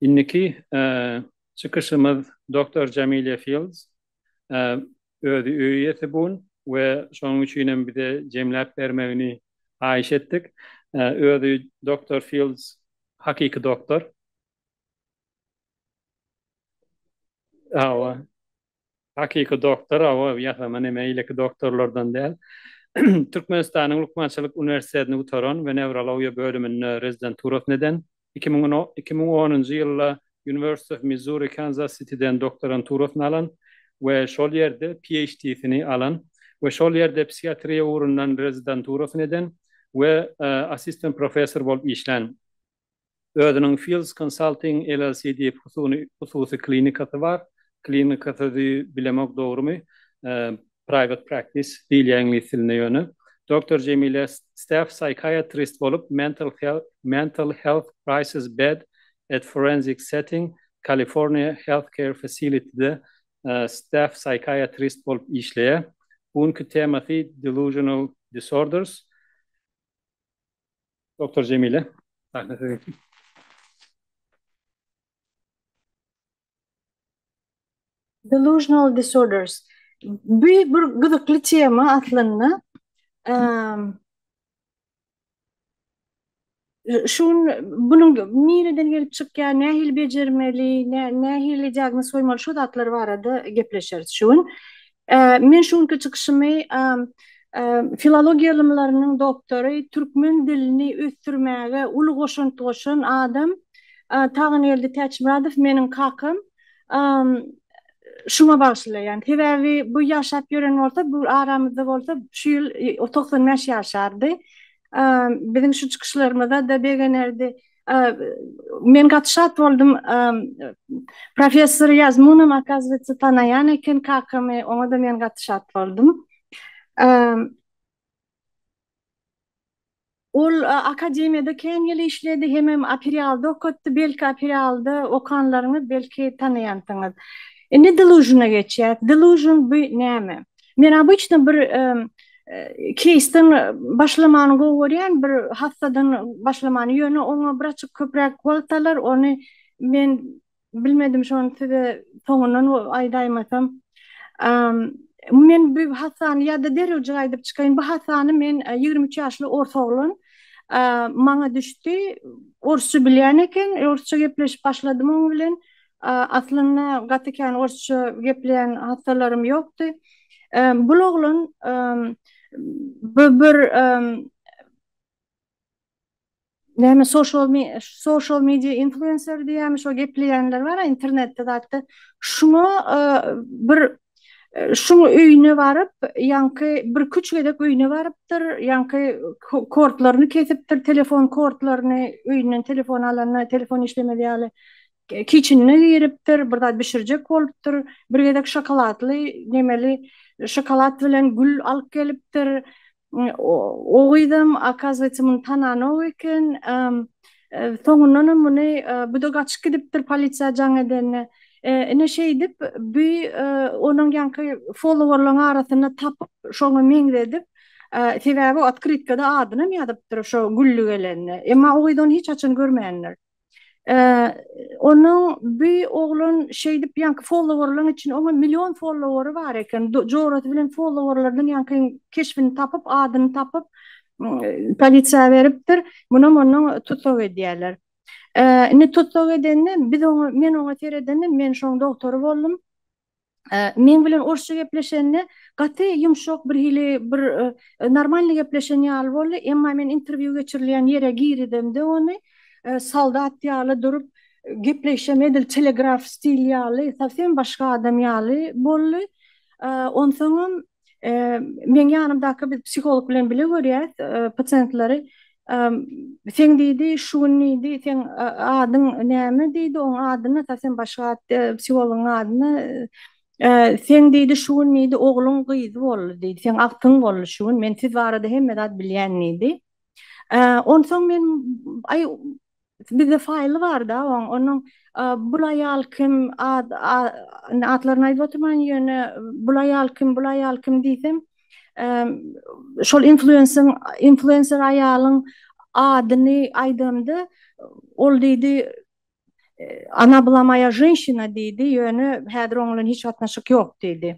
Indiki çykyşymyz doktor Jamilýa Fields özi öý iýesi bun we şonuň üçin hem bize jemläp bermegini haýyş etdik. Özi doktor Fields hakyky doktor. Hawa. Hakyky doktor, hawa, ýasama neme, eýleki doktorlardan däl. Türkmenistanyň lukmançylyk uniwersitetini gutaran we newrologiýa bölüminde rezidenturasyny eden, iki müň on iki müň onunjy ýylda University of Missouri Kansas Sitiden doktoranturasyny alan we şol ýerde PHD-sini alan we şol ýerde psihiatriýa ugrundan rezidenturasyny eden we assistent professor bolup işlän. Özüniň Fields Consulting LLC diýip husuny hususy klinikasy bar. Klinika sözi bilemok dogrymy, private practice diýilýär iňlis dilinde ýöne. Doktor Jemile staff psychiatrist bolup Mental Health Mental Health Crisis Bed at Forensic Setting California Healthcare Facility-de staff psychiatrist bolup işleýär. Bu günki temasy Delusional Disorders. Doktor Jemile, sahne siziňki. Delusional disorders. Bu bir gyzykly tema aslynda. Şu bunuň nireden gelip çykýar, nähili bejermeli, nähili diagnoz goýmaly şu zatlar barada gepleşeris şu gün. Men şu günki çykyşymy filologiýa ylymlarynyň doktory, türkmen dilini ösdürmäge uly goşant goşan adam Tagangeldi Täçmyradow, meniň kakam, şuňa bagyşlaýan. Sebäbi bu ýaşap ýören bolsa, bu aramyzda bolsa, şu ýyl togsan bäş ýaşardy. Biziň şu çykyşlarymyza-da begenerdi. Men gaty şat boldum. Professor Ýazmunow akazywetsa tanaýan eken kakamy, oňa-da men gaty şat boldum. Ol akademiýada kän ýyl işledi, hemem Aperýalda okatdy. Belki Aperýalda okanlaryňyz belki tanaýansyňyz. Indi Delusion-a geçýäs. Delusion bu näme? Men obyçny bir keýsden başlamany gowy görýän, bir hassadan başlamany, ýöne oňa bir açyk köpräk wagt alar, ony men bilmedim şony size soňundan aýdaýmasam. Men bu hassany ýa-da derewjik aýdyp çykaýyn, bu hassany men ýigrimi üç ýaşly ors oglan maňa düşdi, orsça bilýän eken, orsça gepleşip başladym oň bilen. Aslynda gaty kän orsça gepleýän hassalarym ýokdy. Bul oglan bu bir näme social media influencer diýýärmi şo gepleýänler bar-a internetde zatda şuňa bir şuň öýüne baryp ýaňky birküç gezek öýüne barypdyr ýaňky kortlaryny kesipdir telefon kortlaryny öýünden telefon alanda telefon işlemez ýaly Kiçinine giripdir, bir zat bişirjek bolupdyr. Bir gezek şokoladly nemeli şokolad bilen gül alyp gelipdir. O gyzam, okazywayse, muny tananok eken. Soňundanam muny bu-da gaçyp gidipdir polisiýa jaň edende. Ine şeýdip, bu onuň ýaňky folowerlaryň arasynda tapyp, şoňa meňzedip, sebäbi otkrytkada adynam ýazypdyr şo gülli gelende. Emma o gyz ony hiç haçan görmändir. Onuň bu oglan şeýdip ýaňky followerlaryň içinde onuň million followery bar eken. Jorasy bilen followerlarynyň ýaňky keşbini tapyp, adyny tapyp, polisiýa beripdir. Munam onuň tussag edýärler. Indi tussag edende biz oňa, men oňa seredende men şoň dogtory boldum. meň bilen orsça gepleşende gaty ýumşak birhili bir normalny gepleşen ýaly boldy, emma men interwýu geçirilýän ýere girizemde ony soldat ýaly durup gepleýşem edil telegraf stil ýaly sowsem başga adam ýaly boldy. Onsoňam Meň ýanymdaky biz psiholog bilen bile görýäs pasiýentleri. Sen diýdi, şu gün diýdi, seň adyň näme diýdi, oň adyny ata sen başga at diýdi, psihologyň adyny. Sen diýdi, şu gün diýdi, ogluň gyzy boldy diýdi, seň agtyň boldy şu gün, men siz barada hemme zat bilýän diýdi. Onsoň men, aý, Bizde faýly barda oň, onuň bul aýal kim, atlaryny aýdyp oturman ýöne bul aýal kim, bul aýal kim diýsem, şol influensiň, influenser aýalyň adyny aýdamda ol diýdi, Ona bla moýa ženşina diýdi, ýöne häzir oň bilen hiç gatnaşyk ýok diýdi.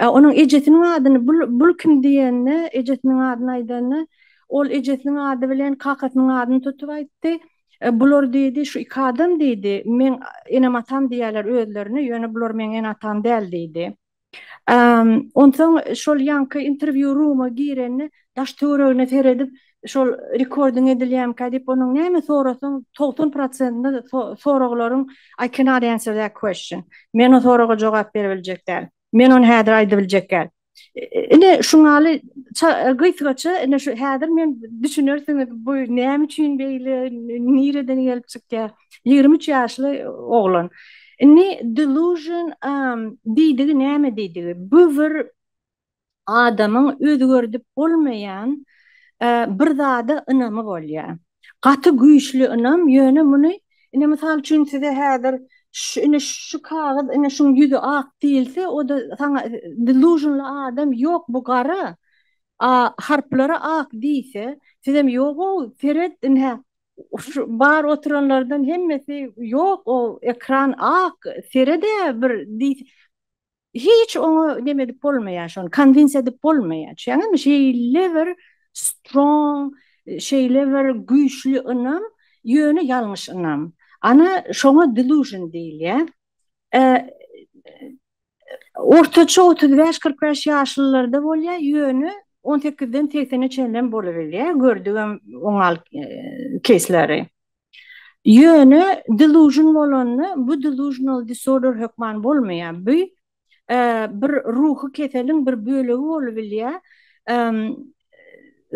Onuň ejesiniň adyny bul kim diýende, ejesiniň adyny aýdanda, ol ejesiniň ady bilen kakasynyň adyny tutup aýtdy. Bular diýdi, şu iki adam diýdi, meň enem-atam diýýärler özlerine, ýöne bular meň ene-atam däl diýdi. Onsoň şol ýaňky interwýu ruma girende, daş-töweregine seredip, şol rekordyň edilýänkä diýip onuň näme sorasaň togsan prosentinde soraglaryň I cannot answer that question men o soraga jogap berebiljek däl men ony häzir aýdybiljek däl ine şuňaly gysgaça ine şu häzir men düşünersiňiz bu näme üçin beýle nireden gelip çykýar ýigrimi üç ýaşly oglan indi delusion diýdigi näme diýdigi bu bir adamyň özgerdip bolmaýan bir zada ynamy bolýar. Gaty güýçli ynam, ýöne muny, ine, mysal üçin, size häzir ine şu kagyz, ine şuň ýüzi ak diýilse, o-da saňa lýuzynly adam ýok, bu gara, a harplary ak diýse, sizem ýog-ow, seret, ine, şu bar oturanlardan hemmesi ýok, o ekran ak, sered-ä bir diýse, Hiç oňa neme edip bolmaýar şony, konwinsiýa edip bolmaýar. Şeýle şeýle bir strong, şeýle bir güýçli ynam, ýöne ýalňyş ynam. Ana şoňa delusion diýilýär. Ortaça otuz bäş, kyrk bäş ýaşlylarda bolýar, ýöne on sekizden segsene çenlem bolubilýär, gördügim oňal keýsleri. Ýöne delusion bolanda bu delusional disorder hökman bolmaýar. Bu bir ruhy keseliň bir bölegi bolubilýär.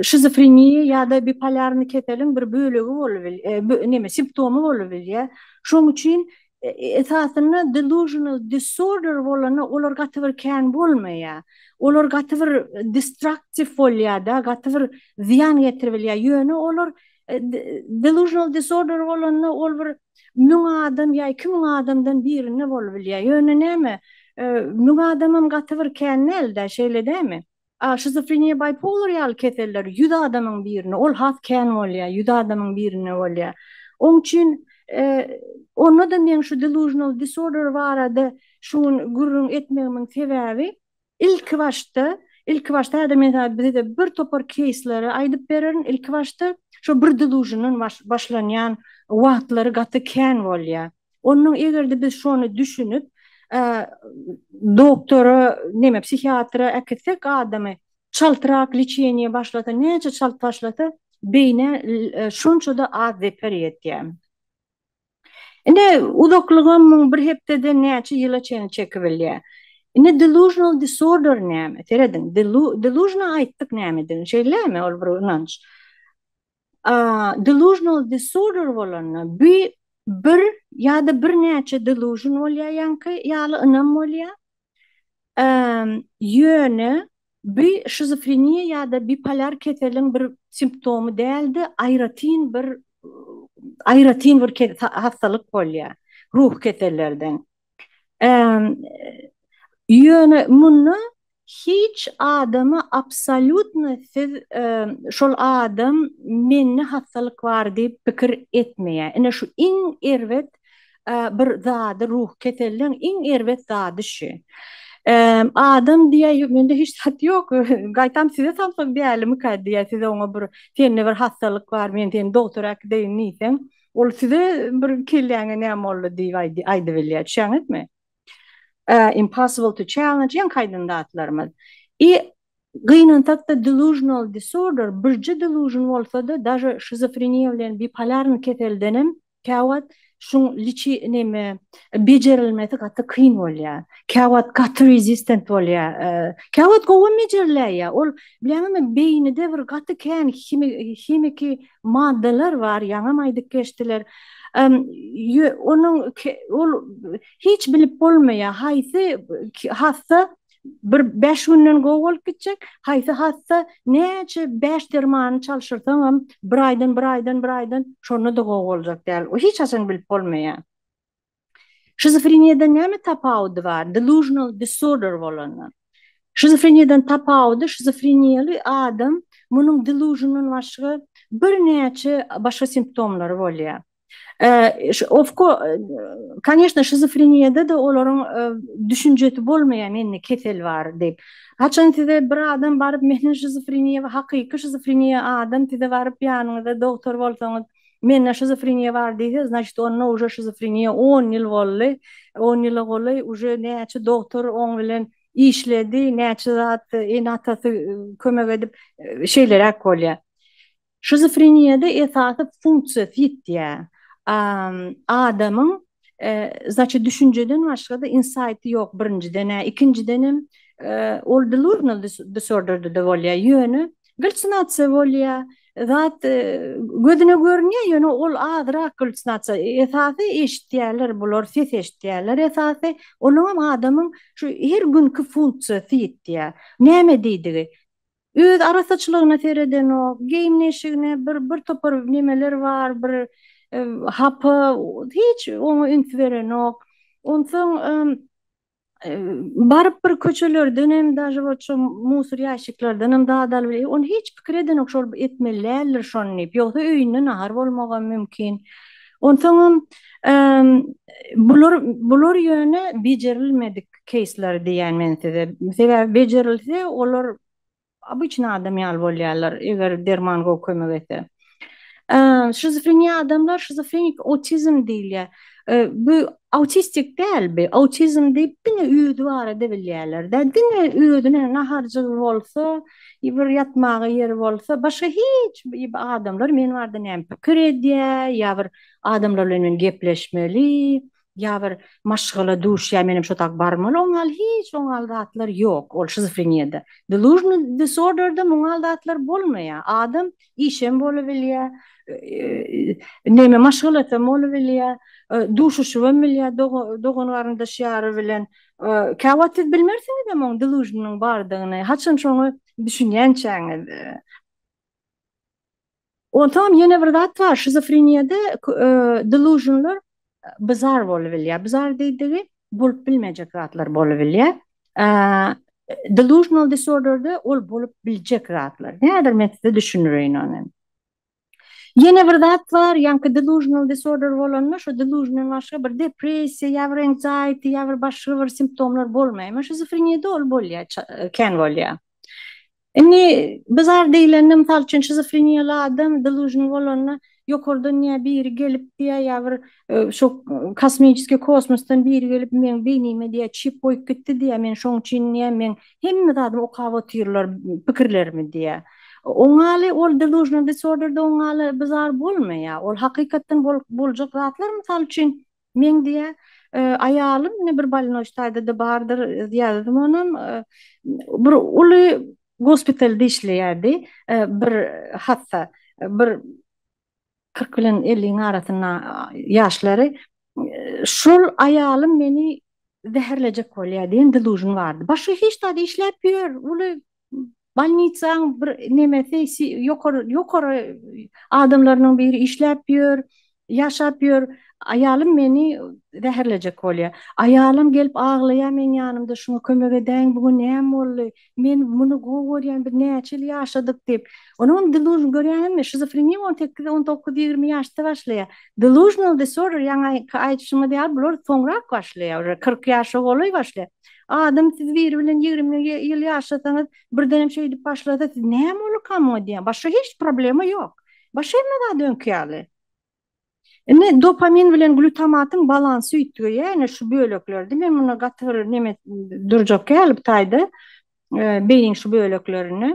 Şizofreniýa ýa-da bipolýarny keseliň bir bölegi bolubilýär, näme simptomy bolubilýär. Şoň üçin esasynda delusional disorder bolanda olar gaty bir kän bolmaýar. Olar gaty bir destructive bolýar-da, gaty bir zyýan getiribilýär. Ýöne olar Delusional disorder bolanda ol bir müň adam ýa iki müň adamdan birinde bolup bilýär. Ýöne näme, müň adamam gaty bir kän däl-dä, şeýle dämi? A şizofreniýa, bipolar ýaly keseller ýüz adamyň birinde, ol has kän bolýar, ýüz adamyň birinde bolýar. Oň üçin onda-da meň şu delusional disorder barada şu gün gürrüň etmegimiň sebäbi, Ilki başda, ilki başda häzir men sana bizede bir topar keýsleri aýdyp bererin. Ilki başda şo bir delusiondan baş başlanýan wagtlary gaty kän bolýa. Ondan egerde biz şony düşünip doktora neme psihiatra äkitsek adamy çaltrak liçeniýa başlasa näçe çalt başlasa beýnä şonçada az zeper ýetýä. Indi uzaklygam muň bir hepdeden näçe ýyla çenli çekibilýär. Indi delusional disorder näme? Serediň, delusional aýtdyk nämedigini, şeýlemi? Ol bir ynanç. Delusional disorder bolanda bi bir ýa-da birnäçe delusion bolýar ýaňky ýaly ynam bolýar. Ýöne bu şizofreniýa ýa-da bipolar keseliň bir simptomy däl-de, aýratyn bir aýratyn bir hassalyk bolýar, ruhy kesellerden. Ýöne munda hiç adama absolýutno siz şol adam mende hassalyk bar diýip pikir etmeýär. Ine şu iň erbet bir zady ruhy keselliň iň erbet zady şü. Adam diýä mende hiç zat ýok. Gaýtam size samsyk dälimika diýä siz oňa bir sende bir hassalyk bar men seni dogtora äkideýin diýseň ol size bir kelläňe näme boldy diýip aýdybilýä düşäňizmi. Impossible to challenge ýeň kaýdan zatlarymyz. I gynansakda delusional disorder birje delusion bolsada daže şizofreniýa bilen bipolarny keseldenem Käwagt şuň liçi neme bejerilmesi gaty kyn bolýa. Käwagt gaty resistent bolýa. Käwagt gowam bejerläýýä. Ol bileňizmi beýnide bir gaty kän himiki maddalar bar ýaňam aýdyp geçdiler. Onuň ol hiç bilip bolmaýa haýsy hassa Bir bäş günden gowy bolup gitjek. Haýsy hassa näçe bäş dermany çalşyrsaňam, bir aýdan, bir aýdan, bir aýdan şonda-da gowy boljak däl. O hiç haçan bilip bolmaýar. Şizofreniýadan näme tapawudy bar delusional disorder bolandan? Şizofreniýadan tapawudy şizofreniýaly adam munuň delusiondan başga birnäçe başga simptomlary bolýar. Ofko Koneşne şizofreniýada-da olaryň düşünjesi bolmaýan indi kesel bar diýip. Haçan size bir adam baryp meniň şizofreniýa we hakyky şizofreniýa adam size baryp ýanyňyzda dogtor bolsaňyz mende şizofreniýa bar diýse znaçit onda uje şizofreniýa on ýyl boldy on ýyla golaý uje näçe dogtor oň bilen işledi näçe zat ene atasy kömek edip şeýleräk bolýa. Şizofreniýada esasy funksiýa sitýa adamyň zaçe düşünjeden başga-da insaýty ýok birinjiden-ä, ikinjidenem ol delusional disorderdede bolýa ýöne gallusinasiýa bolýa zat gözüne görünýä ýöne ol azyrak gallusinasiýa esasy eşitýäler bular ses eşitýäler esasy olaňam adamyň şu her günki funksiýa sitýa näme diýdigi Öz arasaçylygyna seredenok, geýim-neşigine bir bir topar nemeler bar, bir hapa, hiç oňa üns berenok. Onsoň baryp bir köçelerdenem daže bol şu musur ýaşiklerdenem zat alyp elek. Ony hiç pikir edenok şol etmeli däldir şony diýip. Ýogsa öýünde nahar bolmagam mümkin. Onsoňam bular bular ýöne bejerilmedik. keýsleri diýýän men size. Sebäbi bejerilse, olar obyçny adam ýaly bolýarlar, eger derman gowy kömek etse. Şizofreniýa adamlar şizofrenik autizm diýilýär. Bu autistik däl bi, autizm diýip diňe özi barada bilýärler-dä. Diňe özüne naharjygy bolsa, bir ýatmaga ýeri bolsa, başga hiç adamlar men barada näme pikir edýär ýa bir adamlar bilen men gepleşmeli. Ýa bir maşgala duşýar, menem şo tak barmaly, oňal hiç oňal zatlar ýok, ol şizofreniýada. Delusional disorderde muňal zatlar bolmaýar. Adam işem bolubilýär, neme maşgalasam bolubilýär, duşuşybam bilýär dogan-garyndaş ýary bilen. Käwagt siz bilmersiňizem oň delusional bardygyny, haçan şoňa düşünýänçäňiz. Onsoňam ýene bir zat bar, şizofreniýada delusionlar bizar bolup bilýär. Bizar diýdigi bolup bilmejek zatlar bolup bilýär. Delusional disorderde ol bolup biljek zatlar. Häzir men size düşündireýin ony. Ýene bir zat bar, ýaňky delusional disorder bolanda şu delusiondan başga bir depressiýa ýa bir anxiety ýa bir başga bir simptomlar bolmaýar. Emma şizofreniýada ol bolýar, kän bolýar. Indi bizar diýlende, mysal üçin, şizofreniýaly adam delusion bolanda, ýokardan ýa biri gelip diýýär, ýa bir şu kosmiçeskiý kosmosdan biri gelip meň beýnime diýýär çip goýup gitdi diýýär, men şoň üçin diýýär, meň hemme zadymy okap otyrlar, pikirlerimi diýýär. Oňaly ol delusional disorder-de oňaly bizar bolmaýar. Ol hakykatdan boljak zatlar, mysal üçin, Men diýä, aýalym ine bir balinoş taýda-da bardyr, ýazdym onam. Bir uly gospitalda işleýärdi, bir hassa, bir kyrk bilen elliň arasynda ýaşlary. Şol aýalym meni zäherlejek bolýar diýen delusion bardy. Başga hiç zat işläp ýör, uly Bolnitsaň bir nemesi ýokary ýokary adamlarynyň biri işläp ýör, ýaşap ýör. Aýalym meni zäherlejek bolýar. Aýalym gelip aglaýar meň ýanymda şuňa kömek edäýiň bu gün näme boldy? Men muny gowy görýän biz näçe ýyl ýaşadyk diýip. Onuň delužn görýäňizmi şizofreniýa on sekiz on dokuz ýigrimi ýaşda başlaýar. Delužnal disorder ýaňaky aýdyşymyz ýaly bular soňrak başlaýar uje kyrk ýaşa golaý başlaýar. Adam siz biri bilen ýigrimi ýyl ýaşasaňyz, birdenem şeýdip başlasa, siz näme ol kamo diýýän. Başga hiç problema ýok. Başga hemme zat öňki ýaly. Indi dopamin bilen glutamatyň balansy üýtgeýär, ýöne şu böleklerdi. Men muny gaty bir neme durjak ýaly bu taýda, e, beýniň şu böleklerine.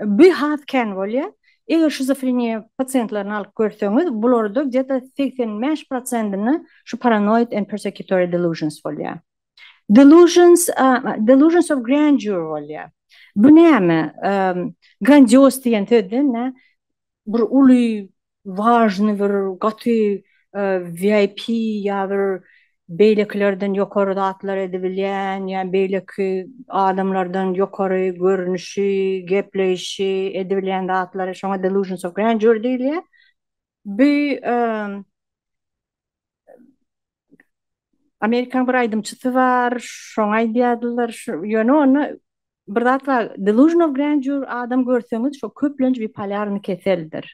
Bu has kän bolýar. Eger şizofreniýa pasiýentlerini alyp görseňiz, bularda gde-de segsen bäş prosentinde şu paranoid and persecutory delusions bolýar. Delusions, delusions of grandeur bolýar. Bu näme? Grandioz diýen söz-de indi. bir uly wažny bir gaty VIP ýa bir beýlekilerden ýokary zatlar edibilýän ýa beýleki adamlardan ýokary görnüşi gepleýşi edibilýän zatlary şoňa delusions of grandeur diýilýär bu Amerikan bir aýdymçysy bar, şoňa aýdýardylar, şu ýöne onda bir zat bar, delusion of grandeur adam görseňiz şo köplenç bipolýarny keseldir.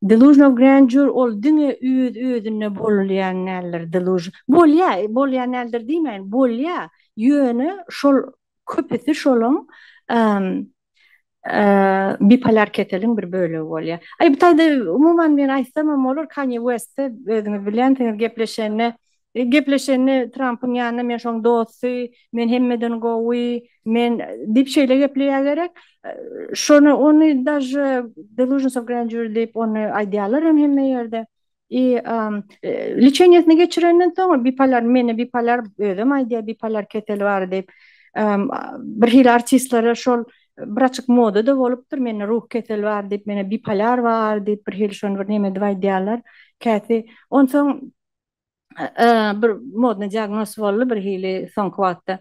Delusion of grandeur ol diňe öz özüne bolýan däldir, delusion. Bolýar, bolýan däldir diýmäýin, bolýar, ýöne şol köpüsi şolaň bipolar keseliň bir bölegi bolýar. Aý bu taýda umuman men aýtsamam bolar Kanye West-de özüňiz bilýänsiňiz gepleşende gepleşende Trampyň ýanynda men şoň dosty, men hemmeden gowy, men diýip şeýle gepleýä gerek. Şony ony daže delusions of grandeur diýip ony aýdýalar hem hemme ýerde. I lçeniýasyny geçirenden soň bipolar meni bipolar özem aýdýar bipolar keseli bar diýip birhili artistlere şol bir açyk moda da bolupdyr mende ruh keseli bar diýip mende bipolar bar diýip birhili şony bir neme edip aýdýarlar käsi onsoň bir modny diagnoz boldy birhili soňky wagtda.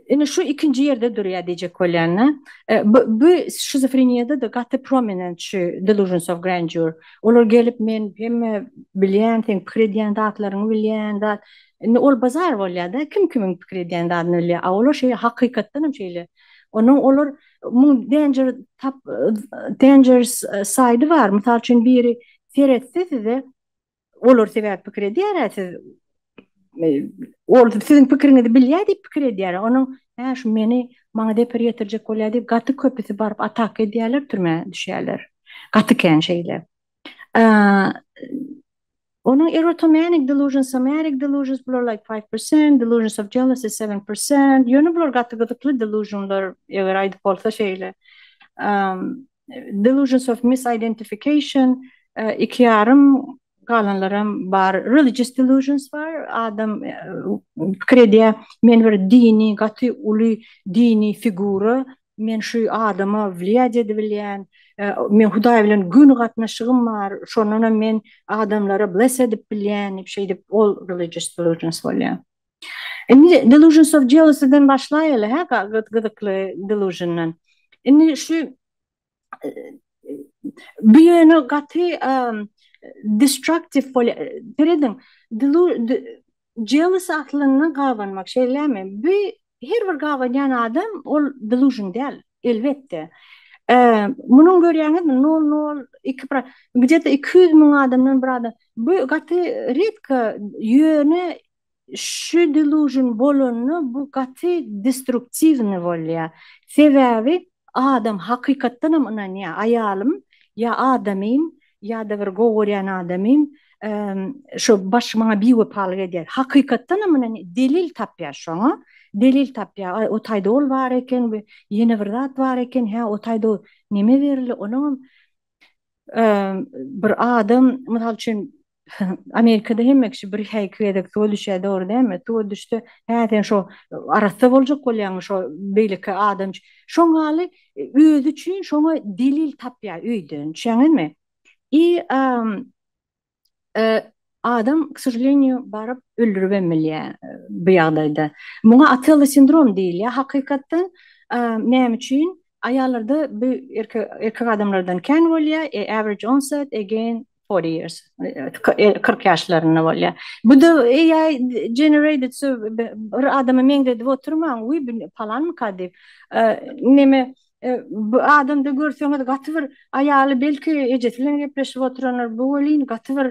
Indi şu ikinji ýerde durýar diýjek bolýan-da. E, bu şizofreniýada-da gaty prominent şu delusions of grandeur. Olar gelip men hemme bilýän, sen pikir edýän zatlaryňy bilýän zat. Indi ol bazar bolýar-da, kim kimiň pikir edýän zadyny bilýär. A olar şeýle hakykatdan hem şeýle. Onuň olar muň danger tap dangerous e, side bar. Mysal üçin biri seretse size Olar sebäp pikir edýär-ä siz ol siziň pikiriňizi bilýär diýip pikir edýär. Onuň hä şu meni maňa zeper ýetirjek bolýar diýip gaty köpüsi baryp ataka edýärler türmä düşýärler. Gaty kän şeýle. Onuň erotomanic delusions, somatic delusions bular like five percent, delusions of jealousy seven percent. Ýöne bular gaty gyzykly delusionlar eger aýdyp bolsa şeýle. Delusions of misidentification, iki ýarym, galanlaram bar, religious delusions bar, adam pikir edýär, men bir dini, gaty uly dini figura, men şu adama wliýadiýa edibilýän, meň Hudaý bilen göni gatnaşygym bar, şondanam men adamlary bless edip bilýän, diýip, şeýdip, ol religious delusions bolýar. Indi delusions of jealousy den başlaýaly hä gyzykly delusiondan. Indi şu bu ýöne gaty destructive bolýar. Serediň, jealous aslynda gabanmak, şeýlemi? Bu Her bir gabanýan adam ol delusion däl, elbetde. Munyň görýäňiz nol nol iki pro gidede iki ýüz müň adamdan bir adam. Bu gaty redko ýöne şu delusion bolanda bu gaty destruktiwny bolýar. Sebäbi Adam hakykatdanam ynanýar, aýalym ýa adamym, ýa-da bir gowy görýän adamym şo baş maňa biwepalyk edýär. Hakykatdanam ynanýar, delil tapýar şoňa, delil tapýar. Aý, o taýda ol bar eken we ýene bir zat bar eken, hä, o taýda neme berli, onuňam bir adam, mysal üçin, Amerikada hemme kişi bir häki gezek suwa düşýär dogry dälmi? Suwa düşse hä sen şo arassa boljak bolýaňmy şo beýleki adam üçin? Şoňaly özi üçin şoňa delil tapýar öýden düşýäňizmi? I adam k sožalenýu baryp öldüribem bilýär bu ýagdaýda. Muňa Otella sindrom diýilýär hakykatdan näme üçin Aýallarda bu erkek adamlardan kän bolýar, a average onset again forty years, kyrk ýaşlarynda bolýar. Bu-da AI generated, so bir adama meňzedip oturmaň, wiý bu palanmyka diýip. Neme, bu adamda görseňiz gaty bir aýaly belki ejesi bilen gepleşip oturandyr, bu welin gaty bir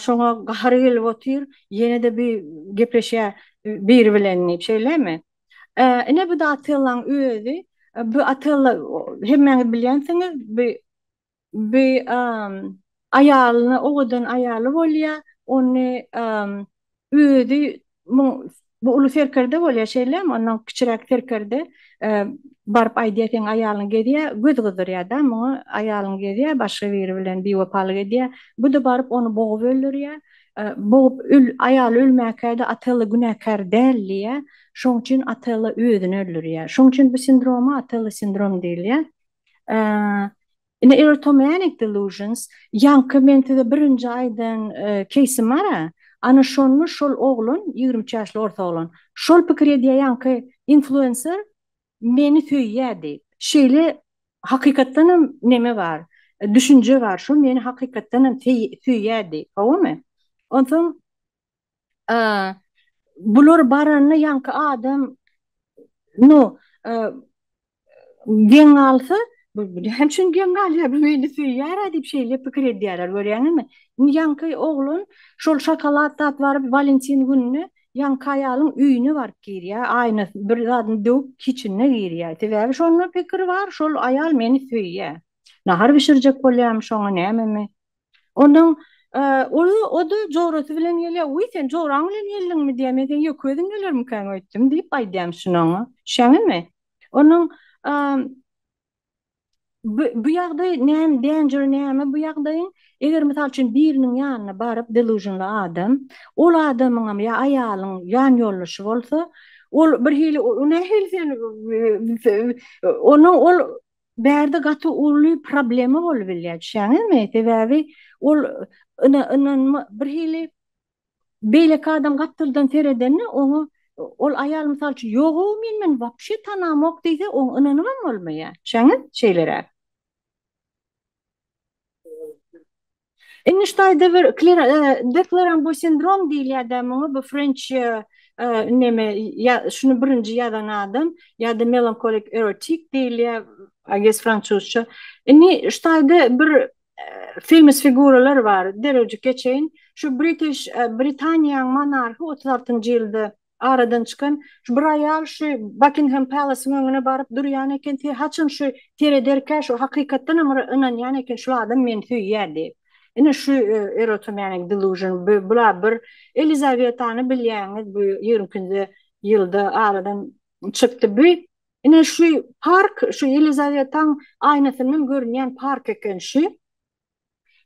şoňa gahary gelip otyr, ýene-de bu gepleşýär biri bilen diýip, şeýlemi? Ine bu da Atellaň özi. Bu Atella hemmäňiz bilýänsiňiz, bu bu aýalyna owadan aýaly bolýar. Ony özi bu uly serkerde bolýar şeýlemi? Ondan kiçiräk serkerde baryp aýdýar seň aýalyň gezýär, göz gyzdyrýar-da muňa aýalyň gezýär başga biri bilen biwepalyk edýär. Bu-da baryp ony bogup öldürýär. Bogup öl, aýaly ölmäkäde Otella günäkär däl diýýär. Şoň üçin Otella özüni öldürýär. Şoň üçin bu sindroma Otella sindrom diýilýär. Ine erotomanic delusions, ýaňky men size birinji aýdan keýsim bar-a, ana şonda şol oglan, ýigrimi üç ýaşly orta oglan, şol pikir edýär ýaňky influencer, Meni söýýä diýip. Şeýle hakykatdan hem neme bar, düşünje bar, şo meni hakykatdan hem söýýä diýip, howamy? Onsoň bular baranda ýaňky adam, no, geň galsa, hem şuny geň galýar, bu meni söýýär-ä diýip şeýle pikir edýärler, görýäňizmi? Indi ýaňky oglan şol şokolad tapyp alyp Walentin gününe. Ýaňky aýalyň öýüne baryp girýär, aýnasyny bir zadyny döwüp kiçinine girýär. Sebäbi şonda pikir bar, şol aýal meni söýýär. Nahar bişirjek bolýarmy şoňa nämemi? Ondan o-da jorasy bilen gelýär. Wiý, sen joraň bilen geldiňmi diýýär. Men seň ýeke özüň gelermikäň öýtdüm diýip aýdýarmyşyn oňa. Düşýäňizmi? Ondan Bu, bu ýagdaý näme, danger näme bu ýagdaýyň? Eger mysal üçin biriniň ýanyna baryp delusionly adam, ol adamyňam ýa aýalyň ýan ýoldaşy bolsa, ol birhili nähili sen onuň ol bärde gaty uly problema bolup bilýär, düşýäňizmi? Sebäbi ol ynanma birhili Beýleki adam gapdaldan seredende oňa ol aýal mysal üçin ýog-ow men muny wapşe tanamok diýse oňa ynanybam bolmaýar. Düşeňiz? Şeýleräk. Indi şu taýda bir klera de Klerambo sindrom diýilýär-dä muňa bu frenç neme ýa şuny birinji ýazan adam ýa-da melankolik erotik diýilýär I guess fransuzça. Indi şu taýda bir Famous figuralar bar. Derewjik geçeýin. Şu British, Britaniýaň monarhy otuz altynjy ýylda aradan çykan. Şu bir aýal şu Buckingham Palace-yň öňüne baryp durýan eken. Sen haçan şu serederkä şu hakykatdan hem ynanýan eken şul adam meni söýýär diýip. Ine şu erotomanic delusion bula bir Elizabetany bilýäňiz bu ýigrimi ikinji ýylda aradan çykdy. Bu Ine şu park şu Ýelizawetaň aýnasyndan görünýän park eken şu.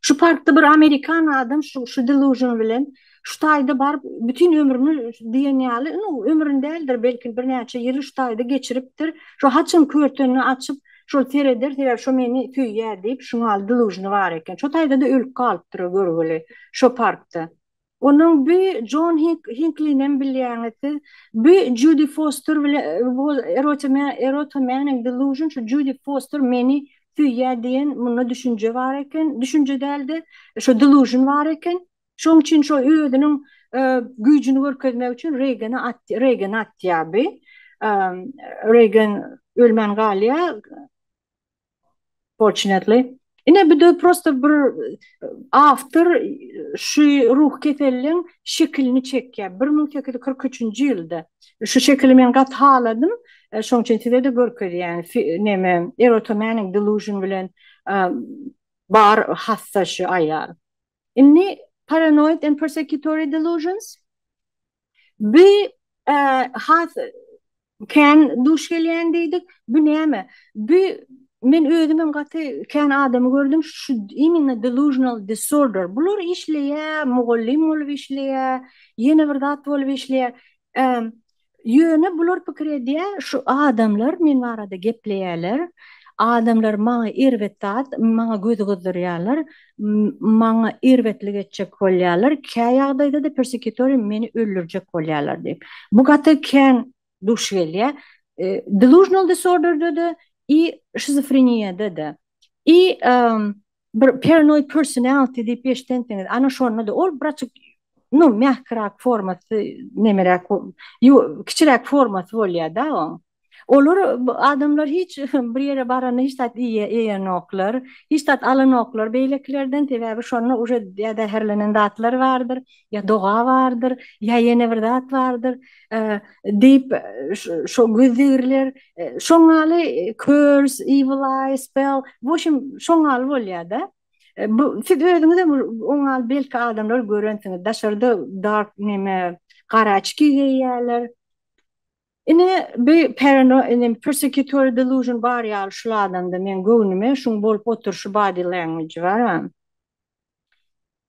Şu parkda bir amerikan adam şu şu delusion bilen şu taýda baryp bütin ömrüni diýen ýaly nu ömrüni däldir belki birnäçe ýyly şu taýda geçiripdir. Şu haçan körtenini açyp şol sereder sebäbi şu meni söýýär diýip şuňaly delusiony bar eken. Şu taýda-da ölüp galypdyr görgüli şu parkda. Onuň bü Jon Hink Hinklinem bilýäňiz siz. Bü Judi Foster bile Erotime Erotime and Delusion şu Judi Foster meni söýýä diýen munda düşünje bar eken. Düşünje däl-de, şo delusion bar eken. Şoň üçin şo özüniň güýjüni görkezmek üçin Reýgene at Reýgene atýar bi. Reýgen ölmän galýar. Fortunately. Ine bu da prosta bir awtor şu ruhy kesellin şekilini çekýär. Bir müň sekiz ýüz kyrk üçünji ýylda. Şu şekili men gaty haladym. Şoň üçin size-de görkezýän. Neme, erotomanic delusion bilen bar hassa şu aýal. Indi paranoid and persecutory delusions bi has kän duş gelýän diýdik. Bu näme? Bu men özüm hem gaty kän adamy gördüm şu imенно delusional disorder. Bular işleýär, mugallym bolup işleýär, ýene bir zat bolup işleýär. Ýöne bular pikir edýär, şu adamlar men barada gepleýärler, adamlar maňa erbet zat, maňa gözi gyzdyrýarlar, maňa erbetlik etjek bolýarlar, kä ýagdaýda-da persekitoriýa meni öldürjek bolýarlar diýip. Bu gaty kän duş gelýär. Delusional disorder-de-de i şizofreniýada-da. I Bir paranoid personality diýip eşdensiňiz, ana şonda-da ol biraçyk nu mähkiräk formasy nemeräk kiçiräk formasy bolýar-da oň. Olar adamlar hiç bir ýere baranda hiç zat iýenoklar, hiç zat alanoklar beýlekilerden sebäbi şonda uje zäherlenen zatlary bardyr. ýa doga bardyr, ýa ýene bir zat bardyr, diýip şo güzdigirler, şoň ýaly körs, evil eye, spell, wuşim şoň ýaly bolýar-da. Bu siz özüňizem oň ýaly belki adamlar görensiňiz, daşarda dark neme, gara açki geýýärler. Ine bi parano inem persekutory delusion bar ýaly şul adamda meň göwnüme şuň bolup oturyşy body language-y bar-a.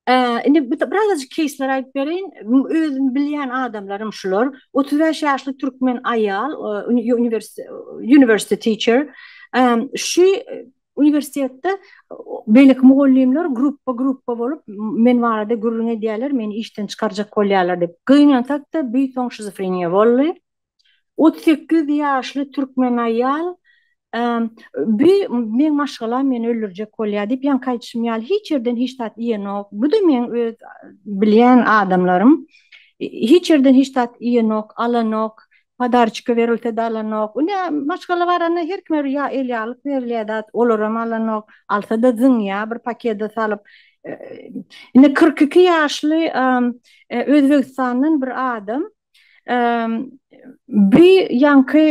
Eee, indi bir de birazajyk keýsleri aýdyp bereýin. M özüm bilýän adamlarym şular, otuz bäş ýaşly türkmen aýal, eee, uni uniwersi university teacher, eee, şu uniwersitetde beýleki mugallymlar grupba-grupba bolup, men barada gürrüň edýärler, meni işden çykarjak bolýarlar diýip. Gynansak-da, büýt soň şizofreniýa boldy. Otuz sekiz ýaşly türkmen aýal Bi meň maşgalam meni öldürjek bolýar diýip, ýaňky aýdyşym ýaly hiç ýerden hiç zat iýenok. Bu-da meň öz bilýän adamlarym. Hiç ýerden hiç zat iýenok, alanok. Podarçika berilse-de alanok. Ine, maşgala baranda her kime bir ýa el ýaglyk berilýär zat, olaram alanok. Alsa-da zyňýar bir pakede salyp. Indi kyrk iki ýaşly Özbegistandan bir adam. Bu ýaňky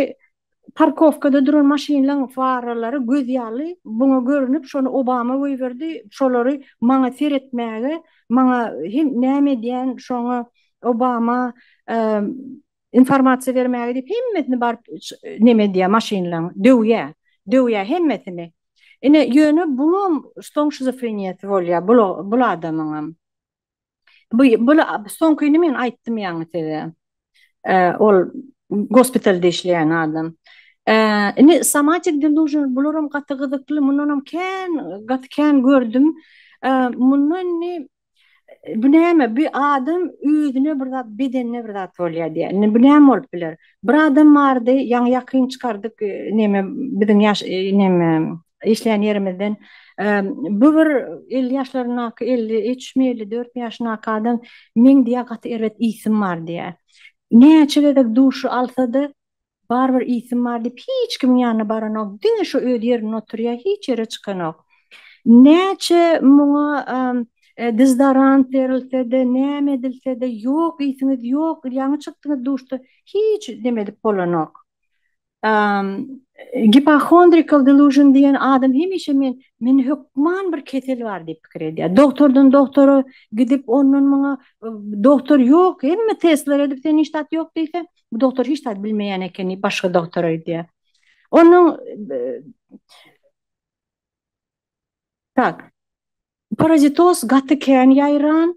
parkowkada duran maşynlaň faralary göz ýaly buňa görnüp, şony Obama goýberdi, şolary maňa seretmäge, maňa hem näme edýän şoňa Obama informasiýa bermäge diýip hemmesini baryp näme edýär maşynlaň döwýär, döwýär hemmesini. Ine ýöne bulam soň şizofreniýasy bolýar bul adamyňam. Bu bu soňkyny men aýtdym ýaňy size. Ol gospitalda işleýän adam. Indi somatic delusion bularam gaty gyzykly, mundanam kän gaty kän gördüm. Munda indi bu näme? Bu adam özüne bir zat, bedenine bir zat bolýar diýýär. Indi bu näme bolup biler? Bir adam bardy, ýaňy ýakyn çykardyk, näme biziň ýaş näme işleýän ýerimizden bu bir elli ýaşlaryndaky elli üçmi elli dörtmi ýaşyndaky adam meň diýýär gaty erbet ysym bar diýýär näçe gezek duşy alsada barybir ysym bar diýip hiç kimiň ýanyna baranok diňe şo öz ýerinde oturýar hiç ýere çykanok näçe muňa dezodorant berilsede näme edilsede ýok ysyňyz ýok ýaňy çykdyňyz duşda hiç neme edip bolanok Gipohondrikal delusion diýen adam hemişe men men hökman bir kesel bar diýip pikir edýär. Doktordan doktora gidip ondan muňa doktor ýok, hemme testler edip sen hiç zat ýok diýse, bu doktor hiç zat bilmeýän ekeni başga doktora gidýär. Onuň Tak. Parazitoz gaty kän ýaýran,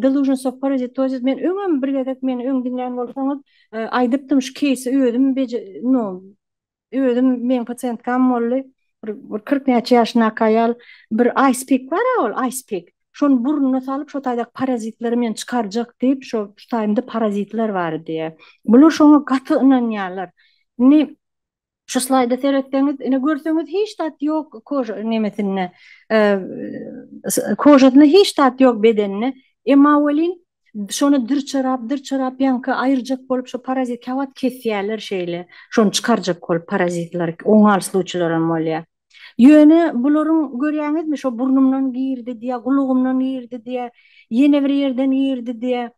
delusions of parasitosis, men öňem bir gezek meni öň diňlän bolsaňyz aýdypdym şu keýsi özüm no özüm meň pasiýentkam boldy bir kyrk näçe ýaşyndaky aýal bir aýspik bara ol aýspik şony burnuna salyp şo taýdaky parazitleri men çykarjak diýip şo şu taýymda parazitler bar diýýär bular şoňa gaty ynanýarlar indi Şu slaýda seretseňiz, ine görseňiz hiç zat ýok koža nemesinde, kožasynda hiç zat ýok bedeninde. Emma welin şony dyrçyrap, dyrçyrap ýaňky aýyrjak bolup şu parazit käwagt kesýärler şeýle. Şony çykarjak bolup parazitlary oňal sluçylaram bolýar. Ýöne bularyň görýäňizmi şo burnumdan girdi diýýär, gulagymdan girdi diýýär, ýene bir ýerden girdi diýýär.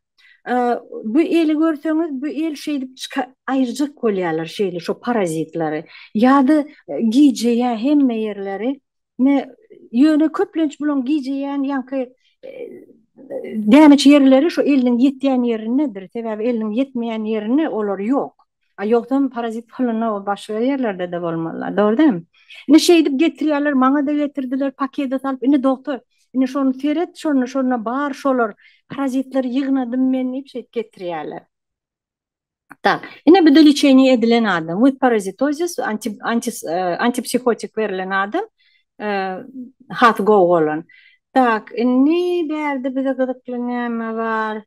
Bu eli görseňiz, bu el şeýdip çyka aýyrjak bolýarlar şeýle şo parazitlary. Ýa-da gijeýär hemme ýerleri. Ne, ýöne köplenç bulaň gijeýän ýaňky dänüç ýerleri şo eliniň ýetýän ýerindedir. Sebäbi eliniň ýetmeýän ýerinde olar ýok. A ýogsam parazit hylynda ol başga ýerlerdede bolmalylar. Dogry dämi? Indi şeýdip getirýärler, maňada getirdiler, pakede salyp, indi dogtor, indi şony seret, şonda şonda bar şolar, parazitleri ýygnadym men diýip şeýdip getirýärler. Tak, ine bu-da liçeniýe edilen adam, with parazitosis, anti anti antipsihotik berlen adam, has gowy bolan. Tak, indi bärde bize gyzykly näme bar?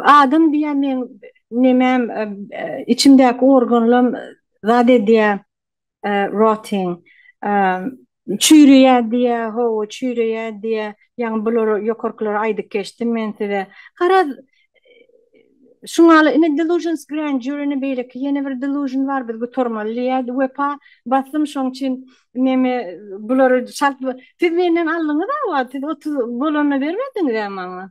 Adam diýýän meň nemem, içimdäki organlam zat edýär, rotting, çüýreýär diýýär, hawa, çüýreýär diýýär. Ýaňy bulary, ýokarkylary aýdyp geçdim men size. Garaz, şu mahaly ine delusions grandeur ine beýleki ýene bir delusion bar, biz gutarmaly diýýär. Wepa, baslym şoň üçin neme, bulary çalt, siz menden aldyňyz-a wagt, siz otuz bolanda bermediňiz-ä maňa.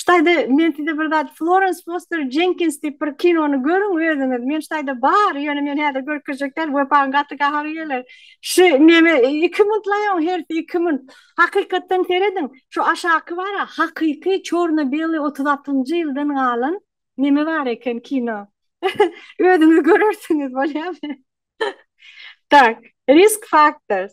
Ştaýda men size bir zat Florence Foster Jenkins diýip bir kinony görüň özüňiz. Men ştaýda bar, ýöne men häzir görkezjek däl, wepaň gaty gahagy geler. Şu neme 2 muntlaýaň hersi 2 munt. Hakykatdan serediň, şu aşaky bar-a, hakyky çorno-beli 36-njy ýyldan galan neme bar eken kino. Özüňiz görersiňiz, bolýamy? Tak, Risk Factors.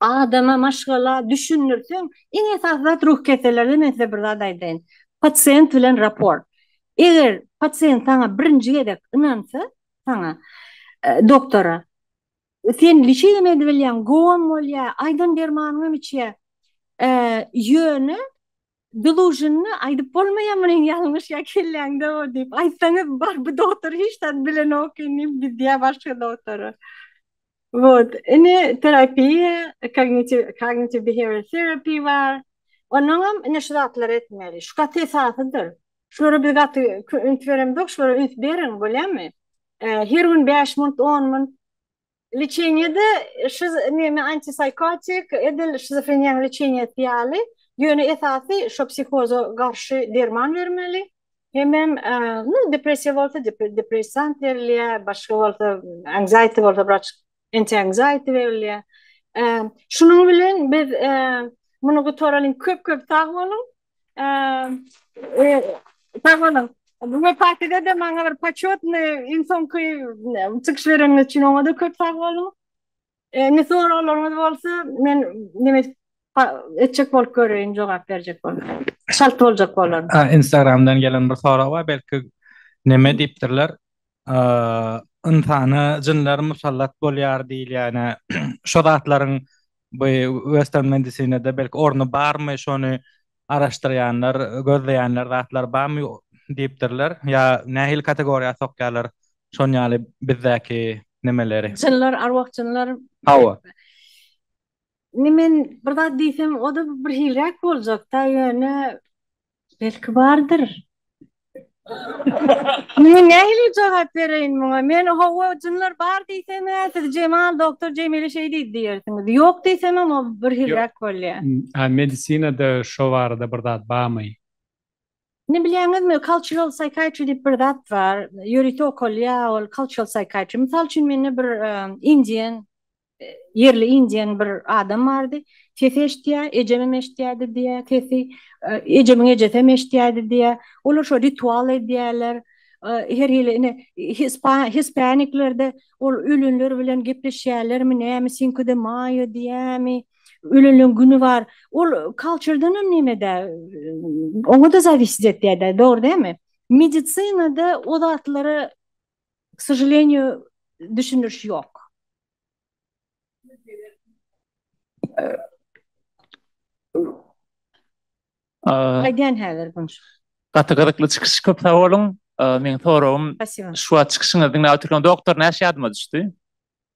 Adama maşgala düşündirseň, iň esasy zat ruh kesellerde men size bir zat aýdaýyn. Pasient bilen raport. Eger pasient saňa birinji gezek ynansa, saňa, doktora, sen liçeniýa-da bilýäň, gowam bolýa, aýdan dermanyňam içýä, ýöne Delusionny aýdyp bolmaýa muny ýalňyş ýa kelläňde o diýip aýtsaňyz bar bu dogtor hiç zat bilenok indi gidýä başga dogtora. Wot indi terapiýa kognitiv kognitiv behavior terapi bar onuňam indi şu zatlary etmeli şu gaty esasydyr şulara biz gaty üns beremzok şulara üns beriň bolýamy her gün bäş minut on minut Leçeniýede şiz neme antipsychotik edil şizofreniýanyň leçeniýesi ýaly, ýöne esasy şo psihoza garşy derman bermeli. Hemem nu depressiýa bolsa depressant berilýär, başga bolsa anxiety bolsa wraç antianxiety berilýär. Şunuň bilen biz muny gutaralyň köp köp sag boluň. Sag boluň. Wepatyda da maňa bir početny iň soňky çykyş bereniňiz üçin oňa-da köp sag boluň. Indi soraglaryňyz bolsa, men neme etjek bolup göreýin, jogap berjek bolup. Çalt boljak bolaryn. Instagramdan gelen bir sorag bar, belki neme diýipdirler, ynsana jynlar musallat bolýar diýilýän-ä, şo zatlaryň bu western medisinede belki orny barmy, şony araşdyrýanlar, gözleýänler zatlar barmy diýipdirler, ýa nähili kategoriýa sokýarlar şon ýaly bizdäki nemeleri? Jynlar, arwah-jynlar. Hawa. Indi men bir zat diýsem, o-da birhiliräk boljak-da, ýöne Belki bardyr. Men nähili jogap bereýin muňa? Men hawa, jynlar bar diýsemä, siz Jemal doktor Jemile şeý diýdi diýersiňiz. Ýok diýsemem ol birhiliräk bolýar. A medisinada şo barada bir zat barmy? Indi bilýäňizmi, cultural psychiatry diýip bir zat bar. Ýörite okalýar ol cultural psychiatry. Mysal üçin mende bir indian ýerli indien bir adam bardy. Sesi eşitýä, ejemem eşitýädi diýýä sesi. Ejemiň ejesem eşitýädi diýýä. Olar şo ritual edýäler. Her hili ine hispaniklerde ol ölenler bilen gepleşýälermi nämi sinko de maýo diýýämi. Ölenleň güni bar. Ol kalçerdenem neme däl. Oňa da zawisit etýä däl dogry dämi. Medisinada o zatlara K sožaleniýu düşündiriş ýok. Aýdýan häzir bunu. Gaty gyzykly çykyş köp sag boluň. Meň soragym şu wagt çykyşyňyzy diňläp otyrkam doktor näş ýadyma düşdi.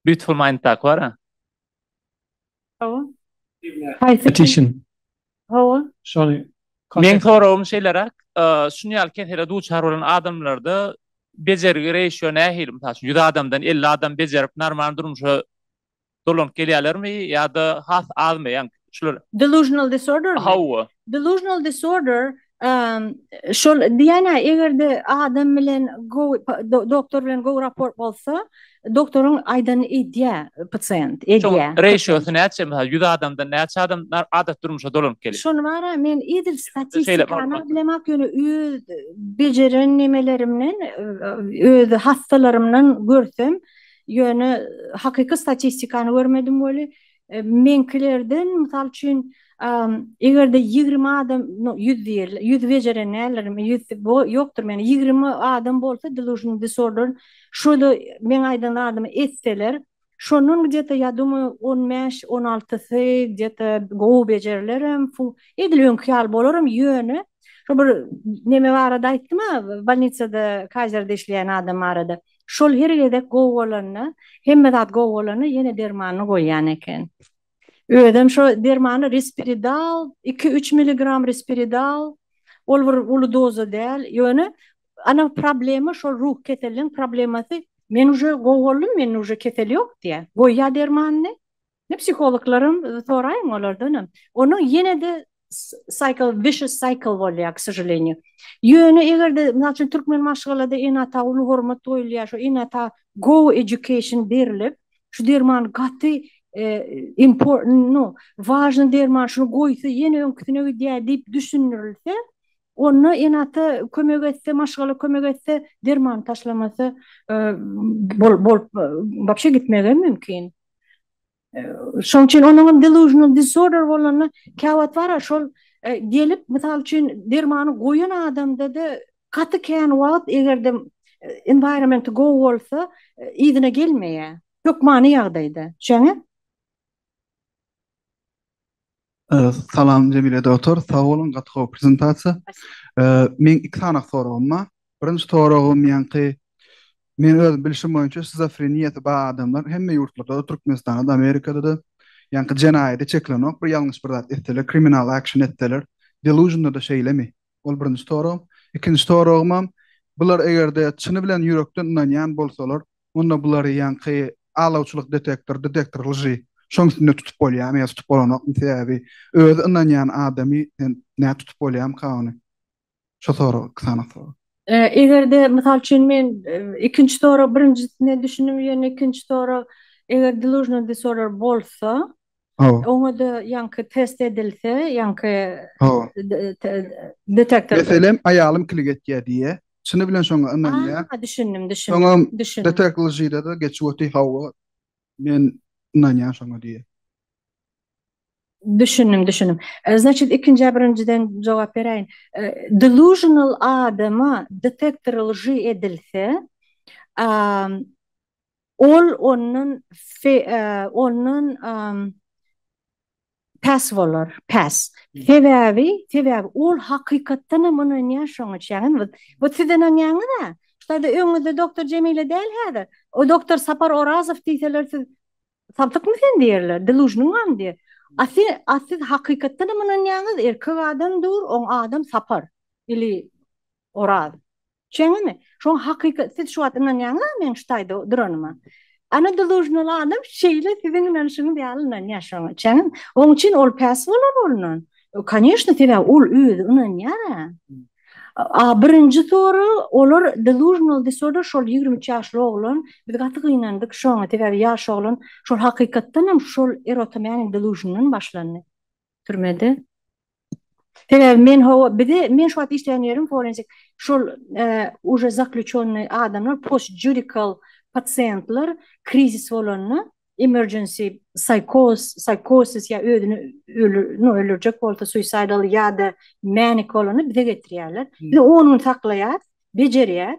Beautiful mind tak bara. Hawa. Haýsy kişi? Hawa. Şony. Meň soragym şeýleräk, şuny ýaly kesele duçar bolan adamlarda bejergi reýşo nähili? Mysal üçin, ýüz adamdan elli adam bejerip normal durmuşa dolanyp gelýärlermi ýa-da has azmy? Ýaňky şular. Delusional disorder? Hawa. Delusional disorder şol diýýän-ä eger-de adam bilen gowy doktor bilen gowy raport bolsa, doktoryň aýdanyny edýär pasient, edýär. Şoň reşiosy näçe mysal ýüz adamdan näçe adam adaty durmuşa dolanyp gelýär? Şony bar-a men edil statistikany bilemok ýöne öz bejeren nemelerimden öz hassalarymdan görsem ýöne hakyky statistikany görmedim weli Meňkilerden, mysal üçin, eger-de ýigrimi adam, no, ýüz diýeli, ýüz bejeren däldirin, ýüz ýokdur mende, ýigrimi adam bolsa delusional disorder, şo-da meň aýdan zadymy etseler, şondan gde-te, ýa domaýan, on bäş, on altysy gde-te gowy bejerilerem, fu, edil öňki ýaly bolarm, ýöne, şo bir neme barada aýtdym-a, bolnisada, kazerde işleýän adam barada. Şol her gezek gowy bolanda, hemme zat gowy bolanda ýene dermanyny goýýan eken. Özem şo dermany Risperidal, iki-üç miligram Risperidal, ol bir uly doza däl, ýöne ana problema şol ruh keseliniň problemasy, men uje gowy boldum, mende uje kesel ýok diýýär, goýýar dermanyny, Ne psihologlaram soraýyň olardanam. Onuň ýene-de cycle vicious cycle bolýar k sožalenie. Ýöne eger-de mysal üçin türkmen maşgalada ene-ata uly hormat goýulýar şu ene-ata go education berilip şu derman gaty important nu wažny derman şuny goýsa ýene öňküsine gidýär diýip düşündirilse onda ene-ata kömek etse maşgala kömek etse dermany taşlamasa bolup wapşe gitmegem mümkin. Şoň üçin onuň delusional disorder bolanda käwagt bar şol gelip, mysal üçin dermany goýan adamda-da gaty kän wagt eger-de environment gowy bolsa, yzyna gelmeýär. Hökmany ýagdaýda. Düşeňiz? Salam Jemile Doktor, sag boluň, gaty gowy prezentasiýa. Meň iki sany soragym bar. Birinji soragym ýaňky men öz bilşim boýunça şizofreniýasy bar adamlar hemme ýurtlarda-da, Türkmenistanda-da, Amerikada-da ýaňky jenaýada çekilenok, bir ýalňyş bir zat etseler, kriminal action etseler, delusion-da-da şeýlemi? Ol birinji soragym. Ikinji soragymam, bular eger-de çyny bilen ýürekden ynanýan bolsalar, Onda bulary ýaňky alawçylyk detektor, detektor lži, şoň üstünde tutup bolýamy ýa tutup bolanokmy sebäbi özi ynanýan adamy sen nä tutup bolýamyka ony şo sorag iki sany sorag. Egerde mysal üçin men ikinji sorag birinjisine düşündim ýöne ikinji sorag eger delusional disorder bolsa Hawa. Oňa-da ýaňky test edilse, ýaňky detektor. Meselem, aýalym kilik etýär diýýär. Çyny bilen şoňa ynanýar. Aha, düşündim, düşündim. Soňam detekljyda-da geçip otyr, hawa, men ynanýan şoňa diýýär. Düşündim, düşündim. Znaçit, ikinjä birinjiden jogap beräýin. Delusional adama detektor lži edilse, Ol ondan ondan pes bolar, pes. Sebäbi, sebäbi ol hakykatdan hem ynanýar şoňa çenli. Bu siz ynanýaňyz-a? Şurada öňüňizde doktor Jemile däl häzir? O doktor Sapar Orazow diýseler siz sapykmy sen diýerler, delužnyň barmy diýer. A siz, a siz hakykatdan hem ynanýaňyz, erkek adam dur, oň adam Sapar ili Oraz. Şeňňemi? Şoň hakykat siz şu wagt ynanýaňyzmy meň şu taýda duranyma? Ana dolužnyly adam şeýle siziň ynanyşyňyz ýaly ynanýar şoňa. Şeňňemi? Oň üçin ol päs bolar ondan. Koneşne sebäbi ol özi ynanýara. A birinji soru olar delužnal disorder şol ýigrimi üç ýaşly oglan biz gaty gynandyk şoňa sebäbi ýaş oglan şol hakykatdanam şol erotomaniň delužnyndan başlandy türmede. Sebäbi men hawa bize men şu wagt işleýän ýerim forensic şol uje zakluçonnyý adamlar post judikal pasiýentler krizis bolanda emergency saýkoz saýkosis ýa özüni no öldürjek bolsa suisaýdal ýada menik bolanda bize getirýärler biz on gün saklaýas bejerýäs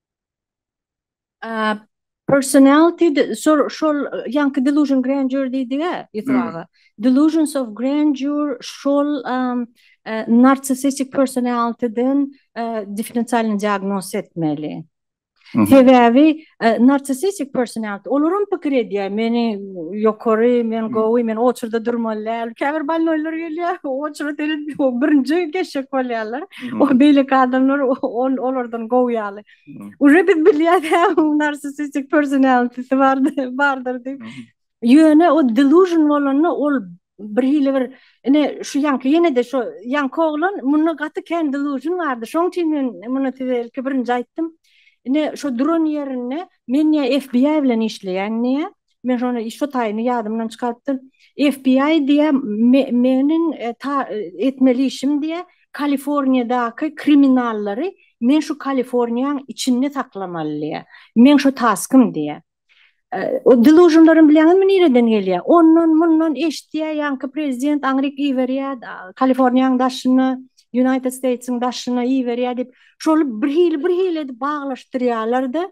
Personality şol şol ýaňky delusion grandeur diýdigi Ýusup aga. Delusions of grandeur şol narcissistic personality-den differensialny diagnoz etmeli. Sebäbi narcissistic personality olar hem pikir edýär, meni ýokary, men gowy, men oçurda durmaly däl. Käbir bolnoýlar gelýär, oçura seredip birinji geçjek bolýarlar. Ol beýleki adamlar ol olardan gowy ýaly. Uje biz bilýäs hä onuň narsisistik personality-si bardyr diýip. Ýöne o delusion bolanda ol bir hili bir ine şu ýaňky ýene-de şu ýaňky oglan munda gaty kän delusion bardy şoň üçin men muny size ilki birinji aýtdym. Ine şu duran ýerinde men ýa FBI bilen işleýän diýýär Men şony şu taýyny ýadymdan çykarypdym. FBI diýä meniň etmeli işim diýä Kaliforniýadaky kriminallary men şu Kaliforniýaň içinde saklamaly diýä. Meň şu taskym diýä. O delusionlaryň bilýäňizmi nireden gelýä? Ondan mundan eşitýä ýaňky prezident aňryk iberýä Kaliforniýaň daşyna United States-iň daşyna iberýä diýip şoly bir hili bir hili edip baglaşdyrýalar-da.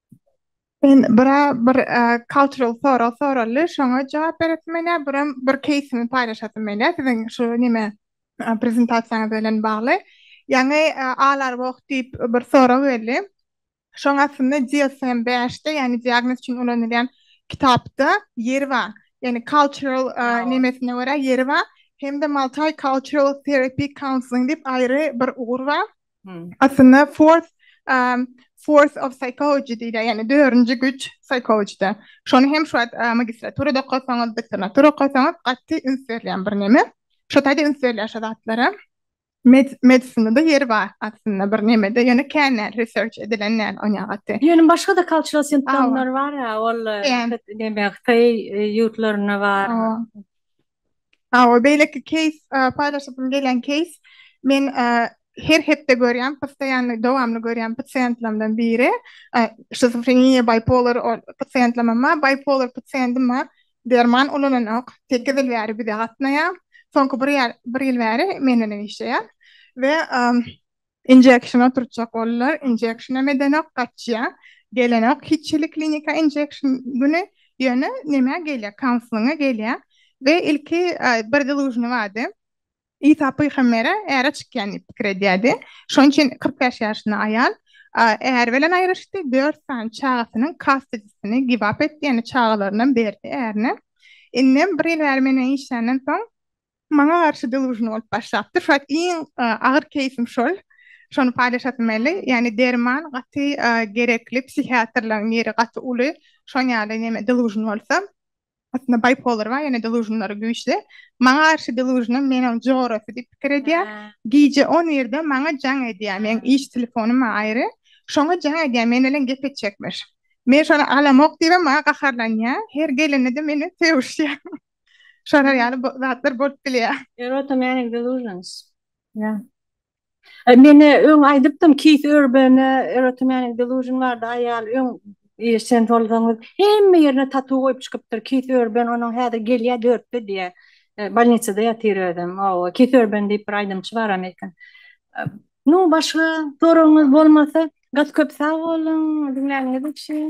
Men bira bir cultural sorag soraldy, şoňa jogap beresim gelýär, biram bir keýsimi paýlaşasym gelýär siziň şu neme prezentasiýaňyz bilen bagly. Ýaňy Alarwalk diýip bir sorag geldi. Şoň astynda DSM bäşde, ýagny diagnoz üçin ulanylýan kitapda ýeri bar. Ýagny cultural nemesine görä ýeri bar. Hem-de Multicultural Therapy Counseling diýip aýry bir ugur bar. Aslynda fourth force of psychology diýilýär, ýagny dördünji güýç psihologda. Şony hem şu wagt magistraturada okasaňyz, doktoranturada okasaňyz gaty üns berilýän bir neme. Şu taýda üns berilýär şu zatlara. Medisinada ýeri bar aslynda bir nemede, ýöne kän däl, research edilen däl onýa gaty. Ýöne başga-da cultural symptomlar bar-a, ol neme hytaý ýurtlarynda bar. Hawa beýleki keýs paýlaşasym gelýän keýs men her hepde görýän postoýanny dowamly görýän pasiýentlerimden biri şizofreniýa baýpolar pasiýentlemem bar baýpolar pasiýentim bar derman ulananok sekiz ýyl bäri bize gatnaýar soňky bir ýar bir ýyl bäri menden işleýär we Injection oturtjak boldular. Injectionam edenok gaçýa. Gelenok hiç hili klinika injection güni ýöne nämä gelýä kaunselinga gelýä we ilki bir delužny bardy. Isa pygambere äre çykýan diýip pikir edýärdi. Şonuň üçin kyrk bäş ýaşynda aýal äri bilen aýryşdy, dört sany çagasynyň kastedisini give up etdi, ýagny çagalarynam berdi ärine. Indem bir ýyl bäri meniň işländen soň Maňa garşy delusion bolup başlapdyr. Şu wagt iň agyr keýsim şol. Şony paýlaşasym geldi. Ýagny derman gaty gerekli, psihiatrlaryň ýeri gaty uly. Şoň ýaly neme delusion bolsa. Aslynda bipolar bar, ýöne delusionlary güýçli. Maňa garşy delusionam meniň jorasy diýip pikir edýär. Gije on birde maňa jaň edýär. Meniň iş telefonym bar aýry. Şoňa jaň edýär, men bilen gep etjekmiş. Men şony alamok diýibem maňa gaharlanýar. Her gelende-de meni sögüşýär. Şolar ýaly bo zatlar bolup bilýär. Erota many delusions. Ýa. E, men öň aýdypdym, Keith Urban-a Erota many delusion bardy, aýal öň e, sen tolgaňyz hemme ýerine tatu goýup çykypdyr. Keith Urban onuň häzir gelýär dörtde diýä. E, bolnisada ýatyr özem. Owa, Keith Urban diýip bir aýdymçy bar amerikan. E, nu, başga soragyňyz bolmasa, gaty köp sag boluň diňläniňiz üçin.